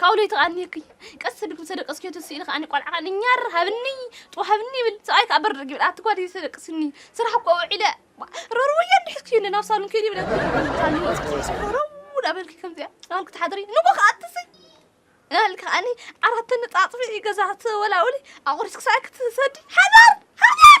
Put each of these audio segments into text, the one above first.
ካብኡ ለይቲ ከኣ እኒሀኪ ቀስ ኣቢልኪ ምስ ተደቀስክዮ ትስኢ ኢሉ ከኣ ቆልዓ ከኣ ኛር ሃብኒ ጥዋ ሃብኒ ይብል ሰብኣይ ከኣ በርርግ ይብል ኣቲ ጓል ኢዩ ዘደቅስኒ ስራሕ እኮ ውዒለ ረርወያ እንዲ ሕዝክዮ እንደ ናብ ሳሉን ከይደ ይብለኪ ሳሉን ወጺእኪ ረረው እናበልኪ ከምዚኣ እናበልኪ ትሓድሪ ንጎ ከኣ ትስኢ እናበልኪ ከኣኒ ዓራት ተነጻጽፊ ገዛ ተወላውሊ ኣቑሪስኪ ሰብኣይ ክትሰዲ ሓዳር ሓዳር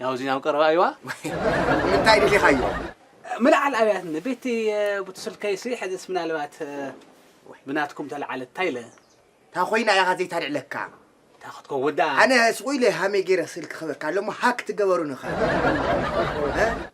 ያው እዚና ኣብ ቀረባ እዩዋ እንታይ ድሊኻዮ ምልዓል ኣብያት ንቤቲ ቡቲ ስልከይሲ ሕዝስ ምናልባት ብናትኩም ተልዓለት እንታይ ኢለ እታ ኮይና ኢኻ ዘይታልዕለካ እታ ክትከውን ደኣ ኣነ ስቑ ኢለ ሃመይ ገይረ ስልኪ ክህበካ ኣሎ እሞ ሃክ ትገበሩኒ ኸ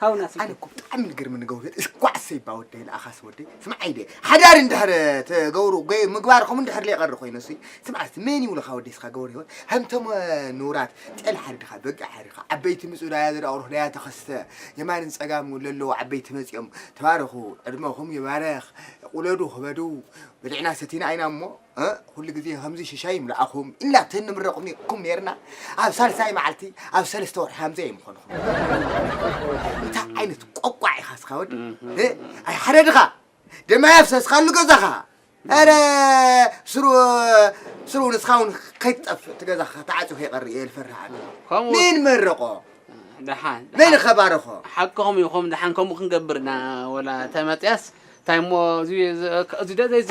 ሃው ናፊ ኣነ እኮ ብጣዕሚ ልግርምኒ ገውህር እስኳዕ ሰይባ ወደይ ንኣኻስ ወደይ ስማዕ ዓይደ ሓዳር እንድሕር ትገብሩ ገይ ምግባርኹም እንድሕር ለይቐሪ ኮይኑ እሱይ ስማዕ እስቲ መን ይብሉኻ ወደይ እስኻ ገበሩ ህይወት ከምቶም ንውራት ጤል ሓሪድኻ በጊዕ ሓሪድኻ ዓበይቲ ምፁ ዳያ ዘዳቕሩኽ ዳያ ተኸስተ የማንን ፀጋም ለለዉ ዓበይቲ መፂኦም ተባረኹ ዕድመኹም ይባረኽ ቁለዱ ክበዱ በሊዕና ሰቲና ኢና እሞ እ ኩሉ ግዜ ከምዚ ሽሻይ ይምልኣኹም ኢልና ተንምረቕኩም ነይርና ኣብ ሳልሳይ መዓልቲ ኣብ ሰለስተ ወርሒ ከምዚ ኣይምኾንኹም እንታይ ዓይነት ቆቋዕ ኢኻ ስኻ ወዲ እ ኣይ ሓደ ድኻ ደማ የፍሰስካሉ ገዛኻ ኧረ ስሩ ስሩ ንስኻ እውን ከይትጠፍእ እቲ ገዛኻ ተዓፅዩ ከይቐርእ እየ ዝፈርህ ኣነ ከምኡ መን መረቖ ደሓን መን ደሓን ከባረኾ ሓቅኹም ኢኹም ደሓን ከምኡ ክንገብርና ወላ ተመፅያስ እንታይ እሞ እዚ እዚ- እዚ ደዘ እዚ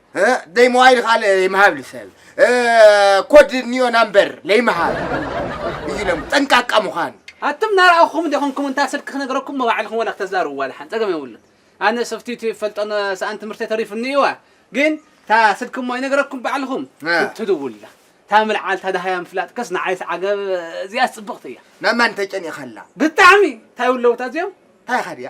ደይ ሞባይል ኻል ይምሃብ ልሰብ ኮድ ኒዮ ናምበር ለይምሃብ እዩ ለም ጠንቃቃ ምዃን ኣቱም ናርኣኹም ዲኹምኩም እንታ ስልኪ ክነግረኩም መባዕልኹም ወላ ክተዛርብዋ ልሓን ጸገም የብሉን ኣነ ሰፍቲቲ ፈልጦ ሰኣን ትምህርቲ ተሪፉኒ እዩዋ ግን እታ ስልኪ እሞ ይነግረኩም ባዕልኹም ትድውላ እታ ምልዓል እታ ደሃያ ምፍላጥ ከስ ንዓይስ ዓገብ እዚኣ ጽብቕቲ እያ ናብ ማን ተጨኒኻ ኣላ ብጣዕሚ እንታይ ውለውታ እዚኦም እንታይ ኻድያ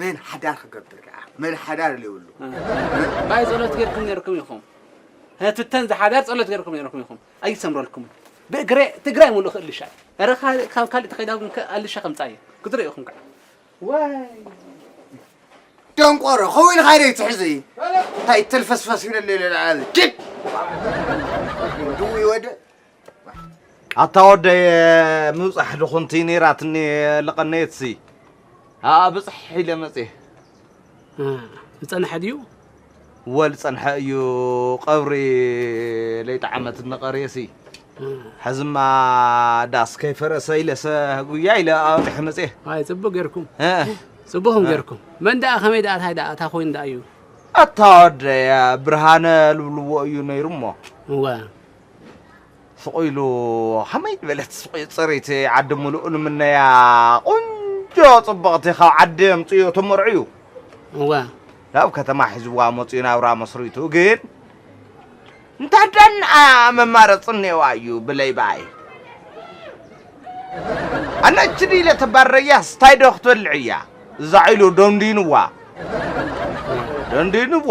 መን ሓዳር ክገብር ደኣ መን ሓዳር ዘይብሉ ኣባይ ጸሎት ጌርኩም ነርኩም ኢኹም ህትተን ዝሓዳር ጸሎት ጌርኩም ነርኩም ኢኹም ኣይሰምረልኩም ብእግረ ትግራይ ሙሉእ ክእልሻ ኧረ ካብ ካልእ ተኸይዳ ግን ኣልሻ ከምጻ እየ ክትሪኡ ኢኹም ከዓ ዋይ ደንቆሮ ከምኡ ኢልካ ዶ ይትሕዙ እዩ እንታይ ተልፈስፈስ ይብለለ ኪድ ድውይ ወደ ኣታ ወደይ ምብጻሕ ድኹንቲ ነይራትኒ ልቐነየትሲ ኣኣ ብጽሕ ኢለ መጽየ ዝጸንሐ ድዩ ወል ጸንሐ እዩ ቐብሪ ለይጠዓመት ንቐርየሲ ሕዝማ ዳስ ከይፈረሰ ኢለሰ ጉያ ኢለ ኣወጢሐ መጽየ ኣይ ጽቡቅ ጌርኩም ጽቡኹም ጌርኩም መን ደኣ ከመይ ደኣ ታይ ደኣ እታ ኮይኑ ደኣ እዩ ኣታ ወደያ ብርሃነ ልብልዎ እዩ ነይሩ እሞ እወ ስቅ ኢሉ ከመይ ዝበለት ስቅ ፅሪቲ ዓዲ ሙሉእ ንምነያ ቁንጆ ፅብቅቲ ካብ ዓዲ ኣምፅኡ ተመርዕዩ እወ ናብ ከተማ ሒዝዋ መፅኡ ናብራ መስሪቱ ግን እንታይ ዳንኣ መማረፂ እኒኦዋ እዩ ብለይ በኣይ ኣነ እችዲ ኢለ ተባረያ ስታይ ዶ ክትበልዕ እያ እዛ ኢሉ ደንዲንዋ ደንዲንዋ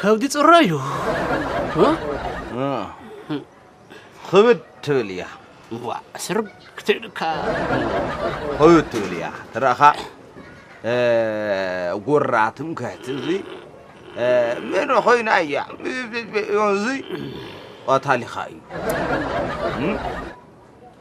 ከብዲ ፅራይ እዩ ክብድ ትብል እያ ዋ ስርብ ክትዕድካ ክብድ ትብል እያ ትረእኻ ጉራ ትምክሕቲ እዚ ምን ኮይና እያ እዚ ቀታሊኻ እዩ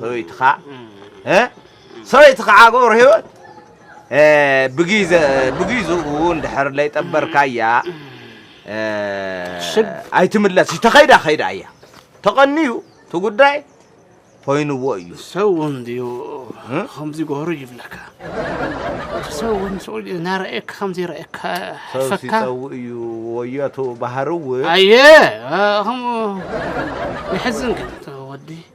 ሰበይትኻ ሰበይትኻ ገብረሂወት ብጊዝኡ እንድሕር ለይጠበርካያ ኣይትምለስ እዩ ተኸይዳ ከይዳ እያ ተቐንዩ እቲ ጉዳይ ኮይኑዎ እዩ ሰው እንድዩ ከምዚ ጎሩ ይብለካ ሰው ሰው እናረእየካ ከምዚ ረእየካ ፈካ ሰው እዩ ወዮቱ ባህሪ እውን ኣየ ከምኡ ይሕዝን ግን ወዲ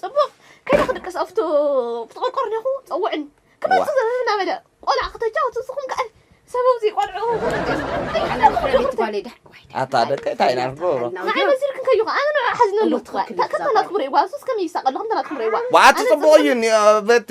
ጽቡቕ ከይደ ክድቅስ ኣብቲ ቆርቆሮ ኔኹ ጸውዕን ክመጽእ ዘበለ እናበለ ቆልዓ ክተጫወቱ ንስኹም ከኣ ሰበብዚ ቆልዑ ኣታ ደቀይ እንታይ ኢና ንገብሮ ንዓይ መሲልክን ከዩ ከኣ ኣነ ንዑ ሓዝነሉ ከከናትኩም ርእዋ ሱስ ከመይ ይሳቐ ኣለኹም ተናትኩም ርእዋ ዋዓቲ ጽቡቕ እዩ በቲ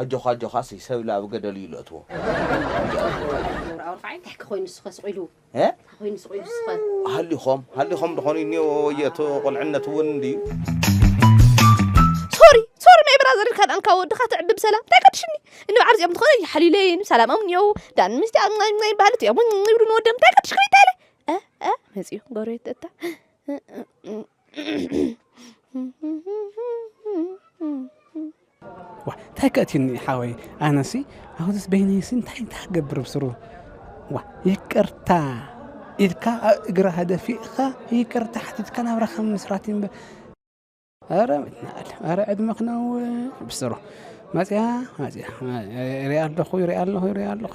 ኣጆኻ ኣጆኻ ስይ ሰብ ኢሉ ኣብ ገደል እዩ ለእትዎ ከምዚኣ ዝበልካ ዩ። ኣውራ ኣውራ ኸዓ እንታይከ ኮይኑ እሱኸ ስቅ ኢሉ እንታይ ኮይኑ ስቅ ኢሉ እሱኸ። ሃሊኾም ሃሊኾም ዶ ኾኑ ኒዮ ወየ እቲ ቁልዕነት እውን እንድዩ። ሶሪ ሶሪ ማይ ብራዘር ኢልካ ድኣ ንካብ ወድኻ ተዕቢ ብሰላም እንታይ ከድሽኒ እንብዓር እዚኦም እንተኾነ ይሓልዩለይን ሰላሞም ኒዮው ዳን ምስቲ ኣብ ናይ ናይ ባህሊ እዚኦም ይብሉ ንወደም እንታይ ከድሽክኒ እንታይ ኢለ እ እ መጺኡ ጎረቤት እታ ዋእ እንታይ ከእትዩኒ ሓወይ ኣነሲ ኣብዚስ በይነይሲ እንታይ እንታይ ክገብር ብስሩ ዋ ይቅርታ ኢልካ ኣብ እግራ ሃደፊእኻ ይቅርታ ሓቲትካ ናብራኻ ምስራት እምበ ኧረ ናል ኧረ ዕድመ ክነው ብስሩ መፅያ መፅያ ሪኣ ኣለኹ ሪኣ ኣለኹ ሪኣ ኣለኹ